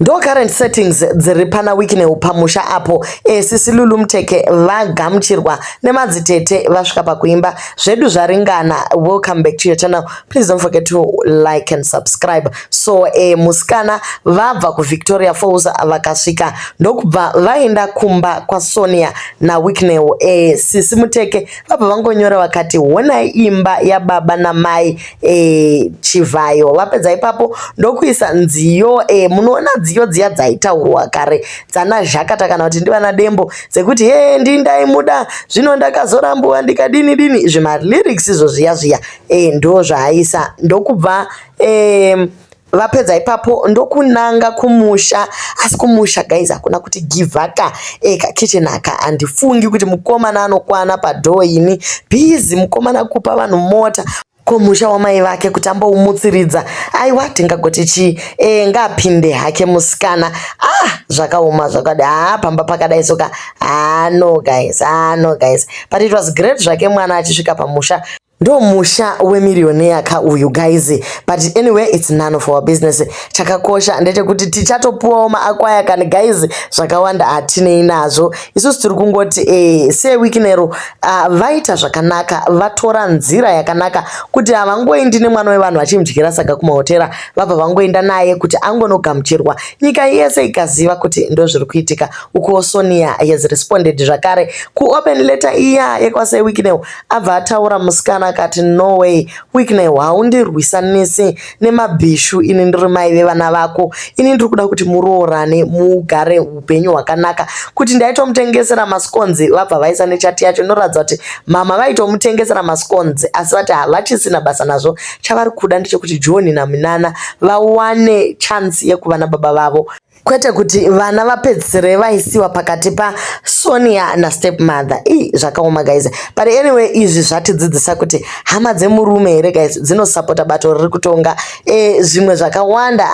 ndo current settings dziri pana wikineu pamusha apo esisi lulu muteke vagamuchirwa nemadzitete vasvika pakuimba zvedu zvaringana welcome back to your channel please don't forget to like and subscribe so e, musikana vabva kuvictoria falls vakasvika ndokubva vaenda kumba kwasonia nawikineu e, sisi muteke vabva vangonyora vakati honai imba yababa namai e, chivhayo vapedza ipapo ndokuisa nziyo e, munoona dziyo dziya dzaitaurwa kare dzana zhakata kana kuti ndivana dembo dzekuti he ndindaimuda zvino ndakazorambuwa ndikadini dini izvi malyrics izvo zviya zviya e, ndo zvaaisa ndokubva e, vapedza ipapo ndokunanga kumusha asi kumusha guys hakuna kuti givaka eka kitchen aka handifungi kuti mukomana anokwana padhoo ini bhizi mukomana kupa vanhu mota komusha wamai vake kuti amboumutsiridza aiwa tingagoti chii e, ngaapinde hake musikana ah zvakaoma zvakadi haa ah, pamba pakadai soka haa ah, no guys haa ah, no guys but it was great zvake mwana achisvika pamusha Ndo musha wemirioneya ka uyu guys but anyway it's none of our business. Chakakosha ndechekuti tichatopuwawo maakwaya kani guys zvakawanda hatinei nazvo. Isusu tiri kungoti eh se weeknero uh, ah, vaita zvakanaka vatora nzira yakanaka kuti havangoendi nemwana wevanhu vachimdyira saka kumahotera vabva vangoenda naye kuti angonogamuchirwa nyika yese ikaziva kuti ndo zviri kuitika. Ukuwo Sonia has responded zvakare kuopen letter iya yekwase weeknero Abva ataura musikana akati no way Wickney haundirwisanisi nemabhishu ini ndiri mai vevana vako ini ndiri kuda kuti muroorane mugare upenyu hwakanaka kuti ndaitomutengesera masikonzi vabva vaisa nechati yacho inoratidza kuti mama vaitomutengesera masikonzi asi vati havachisina basa nazvo chavari kuda ndechekuti John naMinana vawane chance yekuva nababa vavo kwete kuti vana vapedzisire vaisiwa pakati pasonia nastepmother i zvakaoma guys but anyway izvi zvatidzidzisa kuti hama dzemurume here guys dzinosapota bato riri kutonga e, zvimwe zvakawanda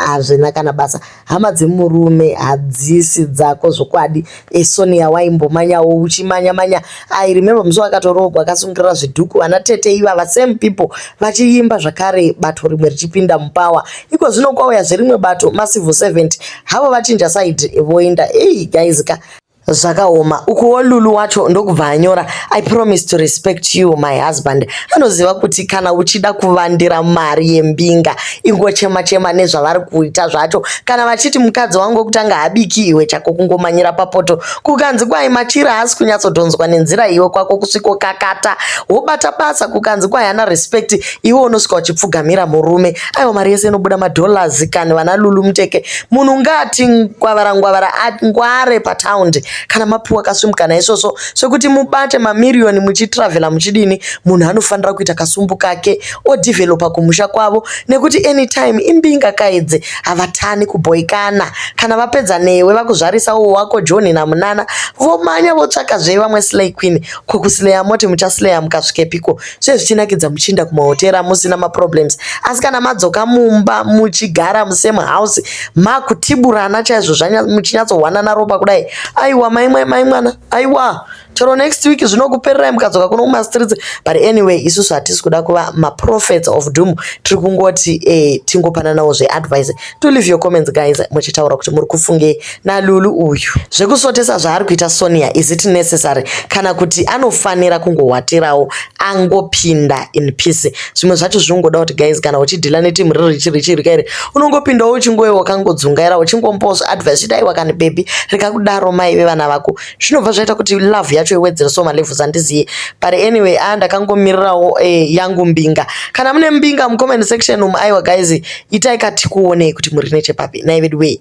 hazvina kana basa hama dzemurume hadzisi dzako zvokwadi E Sonia waimbomanyawo uchimanya manya. I remember musi wakatoroogwa akasungirira zvidhuku vana tete ivava same people vachiimba zvakare bato rimwe richipinda mupower. Iko zvino kwauya zverimwe bato ma civil servant havo vachinja side voenda. Hey guys ka zvakaoma ukuwo lulu wacho ndokubva anyora i promise to respect you my husband anoziva kuti kana uchida kuvandira mari yembinga ingochema chema nezvavari kuita zvacho kana vachiti mukadzi wangu wekutanga habiki iwe chako kungomanyira papoto kukanzi kwai machira haasi kunyatsodhonzwa nenzira iwe kwako kusviko kakata wobata basa kukanzi kwai hana respect iwe unosvika uchipfugamira murume aiwa mari yese inobuda madollars kani vana lulu muteke munhu ngati ngwavara ngwavara ngware pataundi kana mapiwa kasumukana isvosvo svekuti mubate mamiriyoni muchitravhela muchidini munhu anofanira kuita kasumbu kake odevelopa kumusha kwavo nekuti anytime imbinga kaidze havatani kubhoikana kana vapedza newe vakuzvarisa uwo wako john namunana vomanya votsvaka zve vamwe slay queen ko kusleya moti muchasleya mukasvikepiko zve zvichinakidza muchiinda kumahotera musina maproblems asi kana madzoka mumba muchigara musame house makutiburana chaizvo muchinyatsohwanana ropa kudai aiwa maimwa maimwana aiwa chero next week zvinokupererai mukadzoka kuno kumastreets but anyway isusu hatisi kuda kuva maprophets of doom tiri kungoti eh, tingopananawo zveadvice to leave your comments guys muchitaura kuti muri kufungei nalulu uyu zvekusotesa zvaari kuita sonia is it necessary kana kuti anofanira kungohwatirawo angopinda in peace zvimwe zvacho zvinongoda kuti guys kana uchidhila netimu riri richiri chiri kairi unongopindawo uchingoe wakangodzungaira uchingombozva advice chidai wakani bebi rikakudaro mai vevana vako zvinobva zvaita kuti love yacho iwedzere so malevels handiziye but anyway a ah, ndakangomirirawo eh, yangu mbinga kana mune mbinga mucomment section umu aiwa guys itai katikuonei kuti muri nechepapi nai veduwee